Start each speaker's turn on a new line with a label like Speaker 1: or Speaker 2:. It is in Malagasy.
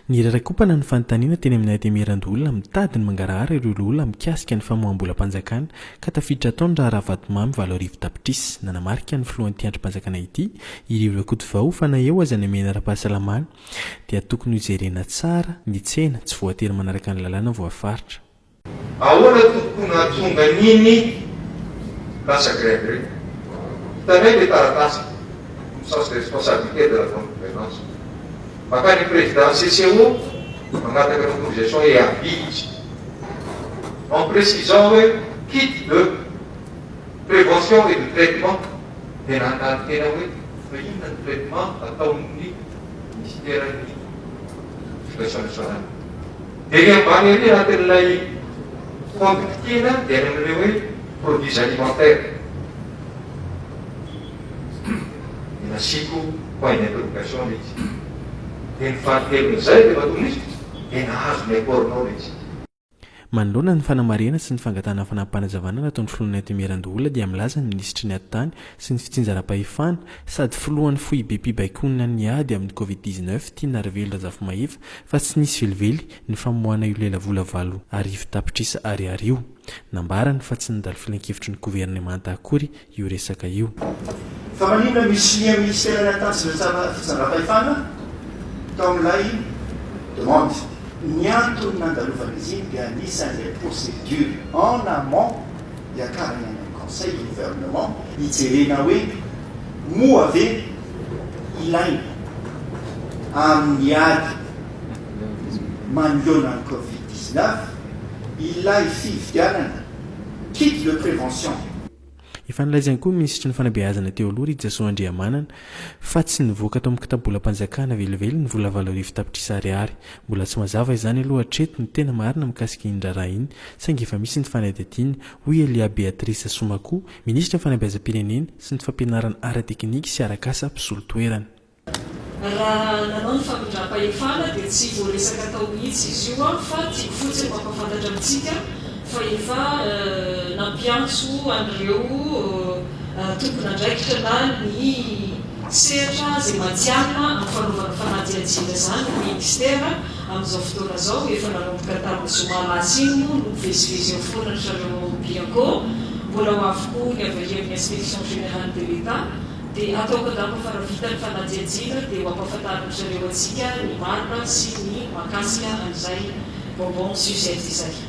Speaker 1: Niraraikopana ny fanontaniana teny amin'ny Antenimierandoholona mitady ny mangarahara ireo loholona mikasika ny famoaham-bolam-panjakana ka tafiditra hatao ny raharaha vatomamy valo arivo tapitrisa. Nanamarika ny filohan'ity andrim-panjakana ity, i Rivo Rakotovao, fa na eo aza ny hamehana ara-pahasalamana dia tokony hojerena tsara ny tsena, tsy voatery manaraka ny lalàna voafaritra. Ahoana
Speaker 2: tompoko no nahatonga an'iny lasa grève ireny? Hitanay ilay taratasy du sens de responsabilité de la bonne gouvernance. Makany président CCO mangataka autorisation et avis izy en précisant hoe kit de prévention et de traitement dia nanontany tena hoe fa inona ny traitement ataon'ny ministeran'ny éducation nationale? Dia ery ambany ery anatin'ilay compte kitihina dia any amin'ireo hoe produits alimentaires dia nasiako point d'interrogation ilay izy. Dia ny fahakelon'izay dia matoa misy dia nahazo ny apport-nao ilay izy. Manoloana
Speaker 1: ny fanamarihana sy ny fangatahana fanapanazavana nataon'ny Filohan'ny Atme Randoholona dia milaza ny Minisitry ny Atitany sy ny Fitsinjaram-pahefana sady Filohan'ny Foibem-pibaikoana ny ady amin'ny Covid dix-neuf, Tinarivelo Razafimahefa, Fa tsy nisy velively ny famoahana io lelavola valo arivo tapitrisa ariary io. Nambarany fa tsy nandalo filankevitry ny governemanta akory io resaka io. Fa maninona
Speaker 3: misilia minisitera ny akanjo sy ny fitsandrampahefana tao amin'ilay demande? Ny antony nandalovan'izy iny dia anisan'ilay procédure en amont. Hiakarina ny conseil du gouvernement hijerena hoe moa ve ilaina amin'ny ady manoloana ny covid dix neuf ilay fividianana kit de prévention. Efa nilaza
Speaker 1: ihany koa ny minisitry ny fanabeazana teo aloha Rijasoa Andriamanana Fa tsy nivoaka tao amin'ny kitabolam-panjakana velively ny vola valo arivo tapitrisa ariary. Mbola tsy mazava izany aloha hatreto ny tena marina mikasika iny raharaha iny, saingy efa misy ny fanadihadiana, hoy Elia Beatrice Soumako, minisitry ny Fanabeazam-pirenena sy ny fampianarana ara-teknika sy arak'asa, mpisolo toerana. Raha
Speaker 4: nanao ny famindram-pahefana dia tsy voaresaka tao mihitsy izy io fa tiako fotsiny mampahafantatra amintsika fa efa nampiantso an'ireo tompon'andraikitra na ny sehatra izay matihanina amin'ny fanaovana fanadihadiana izany ny Ministera amin'izao fotoana izao, efa nanomboka tamin'ny zoma lasa iny moa no mivezivezy eo foana ry zareo ao Bianco, mbola ho avy koa ny avy aty amin'ny Inspection Générale de l'Etat, dia ataoko angamba fa raha vita ny fanadihadiana dia ho ampahafantarin'ny zareo antsika ny marina sy ny mahakasika an'izay bonbon sucette izay.